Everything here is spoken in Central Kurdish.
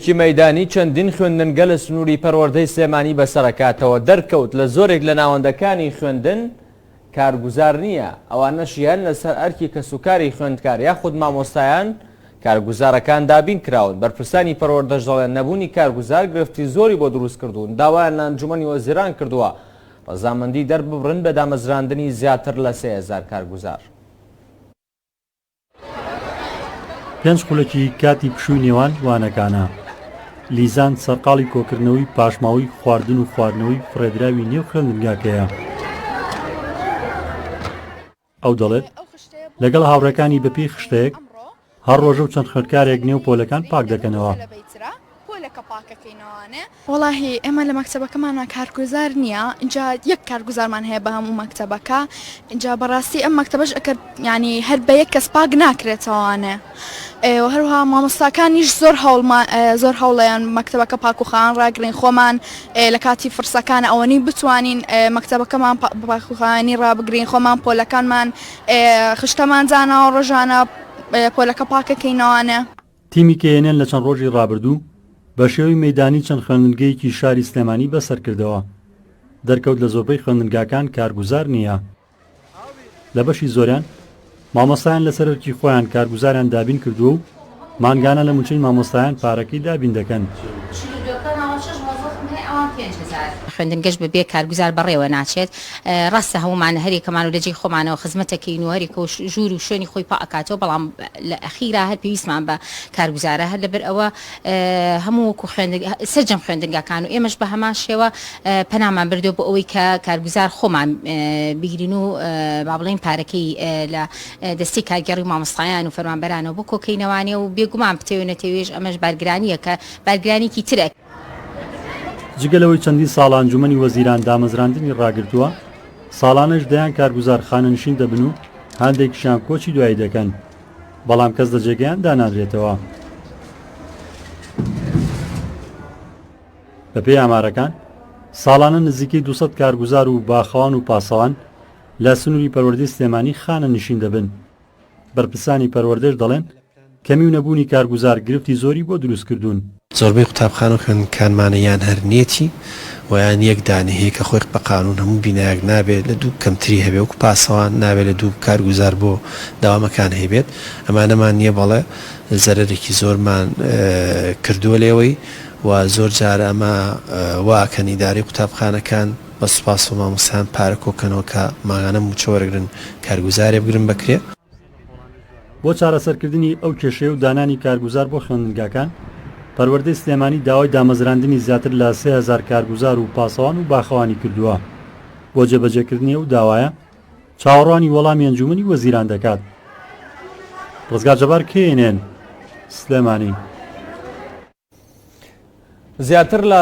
کی مەیدانی چەندین خوێندنگە لە سنووری پەروەردەی سلێمانی بەسەرەکاتەوە دەرکەوت لە زۆرێک لە ناوەندەکانی خوێندن کارگوزار نییە، ئەوانەش یان لەسەر ئەرکی کەسوکاری خوێندکار یاخود مامۆستایان کارگوزارەکان دابین کراون، بەرپرسانی پەروەردەش دەڵێن نەبوونی کارگوزار گرفتی زۆری بۆ دروست کردوون، داوایان لە ئەنجومەنی وەزیران کردووە ڕەزامەندی دەرببڕن بە دامەزراندنی زیاتر لە سێ هەزار کارگوزار. پێنج خولەکی کاتی پشووی نێوان وانەکانە لیزان سەرقاڵی کۆکردنەوەی پاشماوەی خواردن و خواردنەوەی فڕێدراوی نێو خوێندنگاکەیە ئەو دەڵێت لەگەڵ هاوڕێکانی بەپێی خشتەیەک هەر ڕۆژە و چەند خوێندکارێک نێو پۆلەکان پاک دەکەنەوە بۆ لە کەپاکەکەی نەوانێ؟ وەڵاهی ئێمە لە مەکتەبەکەمانە کارگوزار نییە ئینجا یەک کارگوزارمان هەیە بە هەموو مەکتەبەکە ئینجا بەڕاستی ئەم مەکتەبەش ئەکەر یانی هەر بە یەک کەس پاک ناکرێتەوانێ ئێوە هەروها مامۆستاکانیش زۆر هەوڵمان زۆر هەوڵیان مەکتەبەکە پاکوخان ڕاگرین خۆمان لە کاتی فرسەکان ئەوەنی بتوانین مەکتەبەکەمان باکوخانی ڕابگرین خۆمان پۆلەکانمان خشتەمان زاناوە ڕۆژانە پۆلەکە پاکەکەینەوانە. تیمی کەی ئێن ئێن لە چەند ڕۆژی ڕابردوو بە شێوەی مەیدانی چەند خوێندنگەیەکی شاری سلێمانی بەسەر کردەوە، دەرکەوت لە زۆربەی خوێندنگاکان کارگوزار نییە، لە بەشی زۆریان مامۆستایان لەسەر ئەرکی خۆیان کارگوزاریان دابین کردووە و مانگانە لە مووچەی مامۆستایان پارەکەی دابین دەکەن. خوێندنگەش بەبێ کارگوزار بەڕێوە ناچێت، ڕاستە هەموومان هەریەکەمان و لە جێی خۆمانەوە خزمەتەکەین و هەریەکەو ژوور و شوێنی خۆی پا ئەکاتەوە بەڵام لە ئەخیرا هەر پێویستمان بە کارگوزارە هەر لەبەر ئەوە هەموو وەکو خوێندگ سەرجەم خوێندنگاکان و ئێمەش بە هەمان شێوە پەنامان بردوە بۆ ئەوەی کە کارگوزار خۆمان بگرین و با بڵێین پارەکەی لە دەستی کارگێڕی مامۆستایان و فەرمانبەرانەوە بۆ کۆکەینەوانێ و بێگومان بتەوێ نەتەوێش ئەمەش بارگرانییەکە بارگرانێکی ترە جگە لەوەی چەندین ساڵە ئەنجومەنی وەزیران دامەزراندنی ڕاگرتووە، ساڵانەش دەیان کارگوزار خانەنشین دەبن و هاندێکشیان کۆچی دوایی دەکەن، بەڵام کەس لە جێگەیان دانانرێتەوە. بەپێی ئامارەکان، ساڵانە نزیکەی دوو سەد کارگوزار و باخەوان و پاسەوان لە سنووری پەروەردەی سلێمانی خانەنشین دەبن. بەرپرسانی پەروەردەش دەڵێن، کەمی و نەبوونی کارگوزار گرفتی زۆری بۆ دروست کردوون. زۆربەی قوتابخانە و خوێندنگکانمانە یان هەر نێتی و یان یەک دانەی هەیە کە خۆی بە قانوون هەموو بینایەک نابێت لە دوو کەمتری هەبێت وەکو پاسەوان نابێت لە دوو کارگوزار بۆ دەوامەکان هەیبێت ئەمانەمان نیە بەڵێ زەرەرێکی زۆرمان کردووە لێوەی و زۆر جار ئەمە وا ئەکەن ئیدارەی قوتابخانەکان بە سوپاس بۆ مامۆستایان پارە کۆکەنەوە کە مانگانە موچە وەرگرن کارگوزارێ بگرن بەکرێ. بۆ چارەسەرکردنی ئەو کێشەیە و دانانی کارگوزار بۆ خوێندنگاکان، پەروەردەی سلێمانی داوای دامەزراندنی زیاتر لە سێ هەزار کارگوزار و پاسەوان و باخەوانی کردووە، بۆ جێبەجێکردنی ئەو داوایە چاوەڕوانی وەڵامی ئەنجوومەنی وەزیران دەکات. ڕزگار جەبار، کەیێنێن، سلێمانی. زیاتر لە